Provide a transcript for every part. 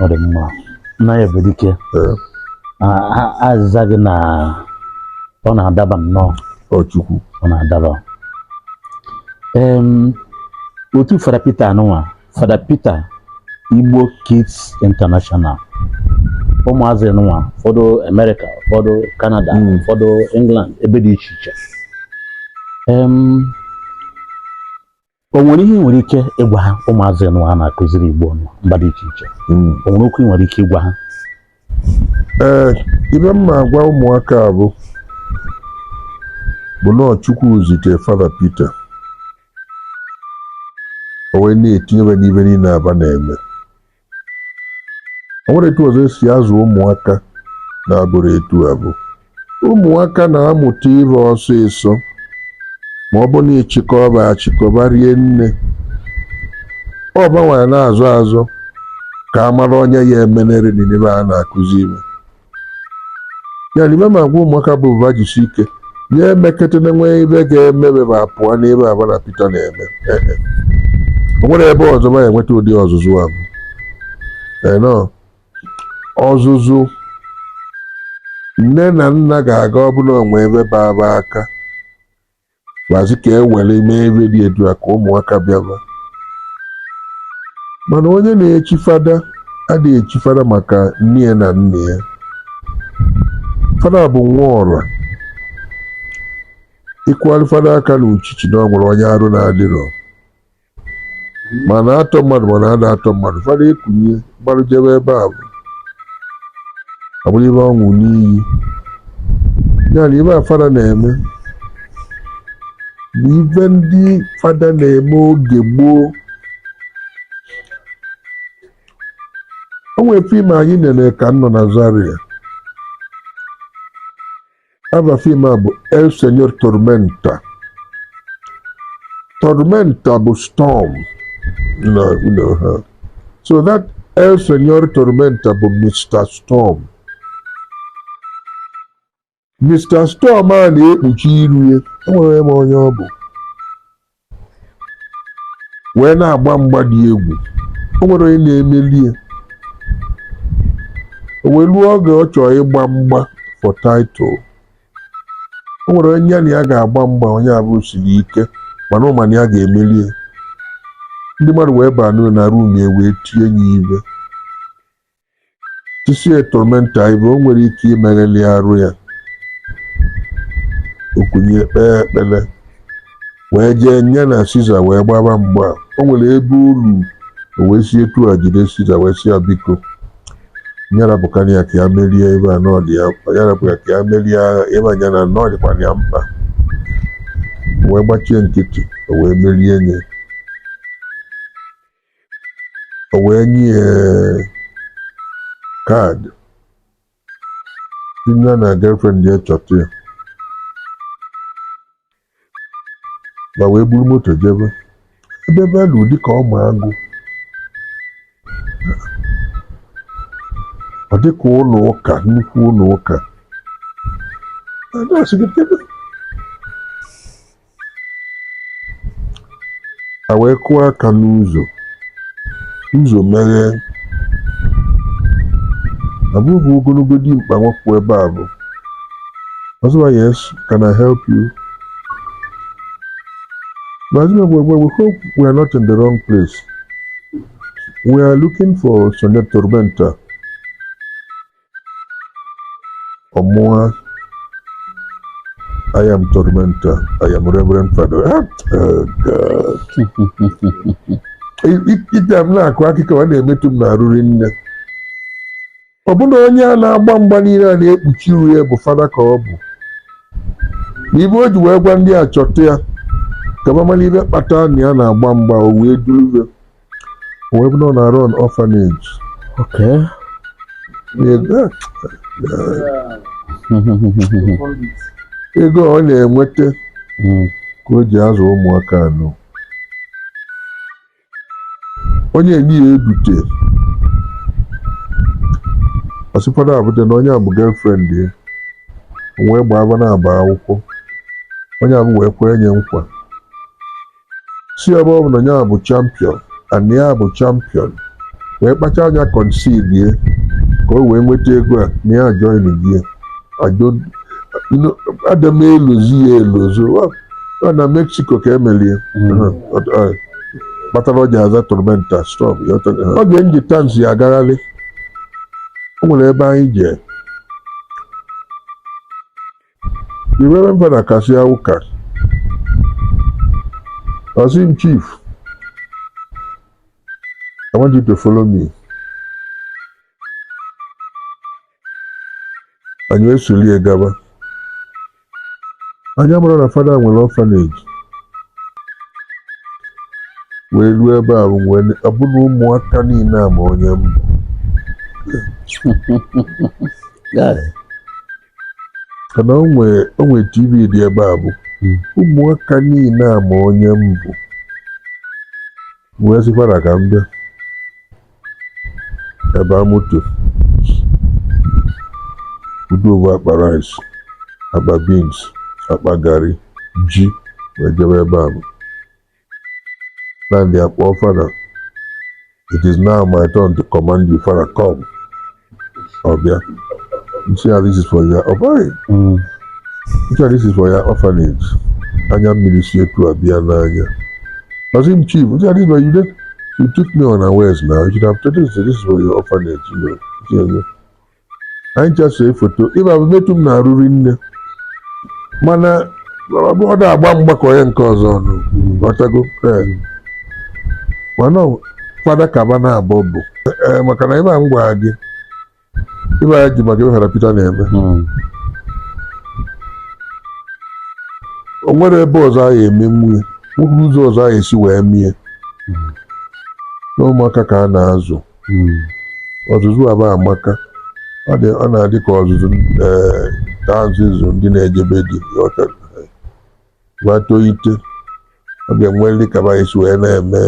ọ dị mma nna ya bụ dike a- a- aza gị na ọ na-adaba nnọọ ọ Chukwu ọ na-adaba Em, otu Fada Pita anụnwa Fada Peter Igbo Kids International ụmụazị nwa ụfọdụ Amerịka ụfọdụ Kanada hmm. ụfọdụ England ebe dị iche iche o nwere ihe i nwere ike ịgwa ha ụmụazị nụnwa a na-akụziri Igbo na mba dị iche iche hmm. o nwere okwu i nwere ike ịgwa ha ee ibe m ma-agwa ụmụaka bụ bụ na ọ Chukwu zite Fada Peter o wee na-etinye be n'ibe niine a ba na-eme o nwerọ etu ọzọ e si azụ ụmụaka na-abụrọ etu abụ ụmụaka na-amụta ihe ọsịsọ ma ọ bụ na ị chịkọba achịkọba rie nne ọ ba nwa na-azọ azọ ka a mara onye ya emenere n'ebe a na-akụzi ihe ya na ibe m ma-agwa ụmụaka bụ ba jisi ike onye emekete na nwee ibe ga-eme be ba pụọ n'ibe a ba na Pita na-eme o nwerọ ebe ọzọ ba ya-enweta ụdị ọzụzụ ahụ enọ ọzụzụ nne na nna ga-aga ọ bụ na o nwee ebe baba aka gbazi ka e were mee ebe dị etu a ka ụmụaka bịaba mana onye na-echi fada ada echi fada maka nne ya na nna ya fada bụ nwa ọra ị kụarị fada aka n'uchichi na o nwere onye arụ na-adịrọ ma a na-atọ mmadụ ma a na-ada atọ mmadụ fada ekunie gbarụ jebe ebe abụ abụrụ ibe ọ ṅụ n'iyi ya na ibe a fada na-eme bụ ibe ndị fada na-eme oge gboo o nwere fim anyị nene ka m nọ na Zaria ava fim a bụ El Señor Tormenta Tormenta bụ storm na you know, ha so that El Señor Tormenta bụ Mr. Storm Mr. Storm a na-ekpuchi iru ya o nwerọ ma onye ọ bụ wee na-agba mgba dị egwu o nwerọ onye na-emeli ya o wee ruo oge ọ chọrọ ịgba mgba for title o nwere onye ya na ya ga-agba mgba onye abụ siri ike mana ọ ma na ya ga-emeli ya ndị mmadụ wee baa n'ụlọ na room ya wee tie ya ibe Tisie Tormenta ive o nwerọ ike imegheli arụ ya. O kunie kpee ekpele wee jee nya na Siza wee gbaba mgba. O nwere ebe o lu o wee si etu a jide Siza wee sị ya biko nya rapụkwanụ ya ka ya merie ebe a na ọ dị ya mkpa ya rapụ ya ka ya merie agha ebe anya na na ọ dịkwanụ ya mkpa wee gbachie nkịtị o wee merie nye o wee nye ya kaadị sị nya na girlfriend ya chọta ya va wee buru moto jebe ebe va lulu dịka ọma agụ ọ dịka ụnọ ụka nnukwu ụnọ ụka na-asị gị kedu a wee kụọ aka n'ụzọ ụzọ meghee a vụ ovu ogonogo dimkpa nwoke ebe avụ ọ sị va yes can I help you but you know, we, we hope we are not in the wrong place we are looking for Señor Tormenta ọ mụwa I am Tormenta. I am Reverend Father. Ah, oh God. Ive a m na-akọ akụkọ ọ na-emetụ m n'arụ rinne. Ọ bụ na onye a na-agba mgba niile a na-ekpuchi iru ya bụ fada ka ọ bụ. Na ive o ji wee gwa ndị a chọta ya ka va mali ive kpata na ya na-agba mgba o wee duru O wee bụrụ na ọ na-run orphanage. Okay. Ego ọ na-enweta hmm. ka o ji azụ ụmụaka anọ. Onye enyi ya edute ọsịkwara abụja na onye a bụ girlfriend ya wee gbaa aba na-agba akwụkwọ onye avụ wee kwe nye nkwa sị ebe ọ bụ na ya bụ champion and ya bụ champion wee kpacha anya concede ka o wee nweta ego a na ya join ya ada m elozo ya elozo ọ na Mexico ka e meli ya kpatara o ji aza Tormenta stop oge m ji Tansi agagharị o nwere ebe anyị jee The Reverend Father kasịa ụka, ọ sị m chief, I want you to follow me. Anyị esolie gaba. Anyị amara na fada nwere orphanage. Wee ruo ebe a wee ọ bụ na ụmụaka niile a ma onye m bụ. Yes. ka na o nwere tv dị ebe a bụ hmm. ụmụaka niile a ma onye m bụ wee sị fada ka m bịa ebe a moto udovu akpa rice akpa beans akpa garri ji wee jebe ebe a bụ Nnamdi akpọọ fada it is now my turn to command you fada come ọbịa nchi a this is for your ọbụghị Mm. nchi a this is for your orphanage anya mmiri si etu a bịa n'anya ọsị m chief nchi a this is for you you took me unawares now you should have told us that this is for your orphanage you know. Nchi a, anyị just see foto ife a bụ metụ m n'arụ rinne mana ọ bụ- ọ na-agba mgbakọ ya nke ọzọ ọnụ ghọtago Ee. mana ọ- fada kaba na abọ bụ Ee, maka na ife a m gwara gị ife a ji maka ife fada Pita na-eme Mm. o nwere ebe ọzọ a ya-eme nwunye nwere ụzọ ọzọ a ya-esi wee mie na ụmụaka ka a na-azụ Hmm. ọzụzụ a bụ amaka ọ na-adị ka ọzụzụ eh, ka a si azụ ndị na-eje be di gbato ite ọ ga-enwelị ka fa si wee na-eme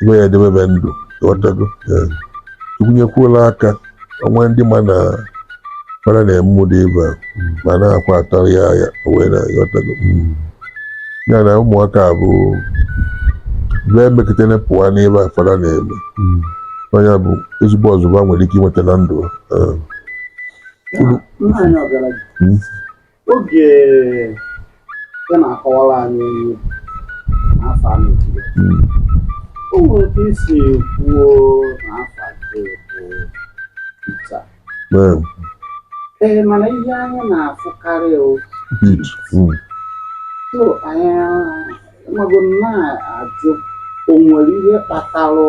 ebe ya edebebe ndụ ị ghọtago eh. tụkwunyekwuola aka o nwe ndị ma na fada na-eme ụdị ife a ma na-akwa atara ya ya wee na-aghọtago ya na ụmụaka a bụ bee mekịtene pụwa n'ife a fada na-eme ọ ya-abụ ezigbo ọzụzụ fa nwere ike inweta na ndụ ha. Eh, Nna anyị ọgaranya. Mm. oge ị na-akọwara anyị ihe n'afọ a mechiri o nwere otu i si kwuo na afa ya bụ Peter Ee, ee mana ihe anyị na-afụkarị ọ Pete, mm, so anyị amago na-ajụ o nwere ihe kpatara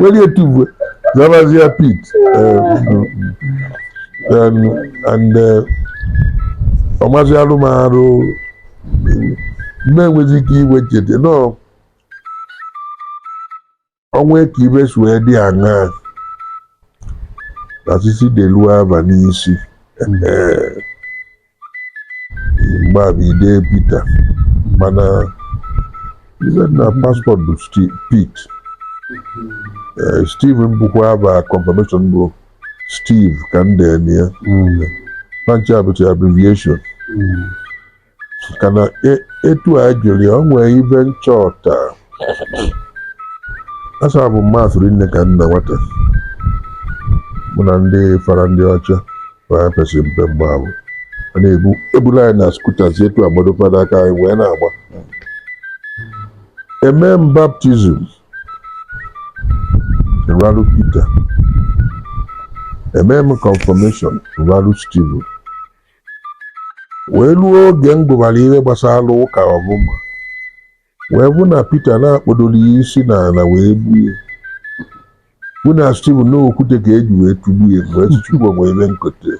Welu etu a bụ wee zabazia Pete uh, and, and uh, ọmazi arụmarụ na-enwezi ike wee chete nọọ o nwe ka ibe si wee dị aṅaa na sisi delu aba n'isi ba abịa dee Peter mana ibe na passport bụ Pete Steven bụkwa aba confirmation bụ Steve ka m dee ya fa ncha bụ abbreviation maka na e- etu a jụrụ ya o nwee ibe m chọta a serve m Mass rinne ka m na nwata mụ na ndị fada ndị ọcha epesi m mpe mgbe ahụ a na-ebula anyị na scooters etu agbado fada aka anyị wee na-agba emee m baptism ralụ Peter emee m confirmation ralụ Steven wee ruo oge m gụbara ihe gbasara ụka ọfụma wee fụ na Peter na a kpọdoro ya isi n'ala wee gbue fụ na Steve na okwute ka e ji wee tụgbuo ya m wee sị Chukwu o nwere ibe m kote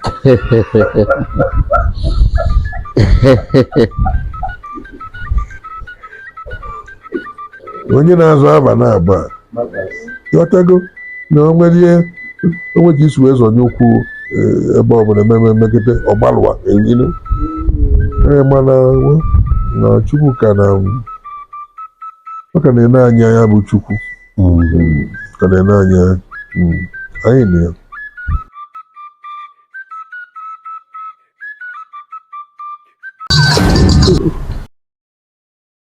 onye na-aza aba naabọ a ghọtago na o nwere ihe o nwere ka i si wee zọnye ụkwụ eh, ebe ọbụla ememe megide ọgbalụwa elu ee mana nwa- na Chukwu ka na ọ ka na-ene anyị anya bụ Chukwu Mm, ka na-ene anyị anya Mm, anyị na ya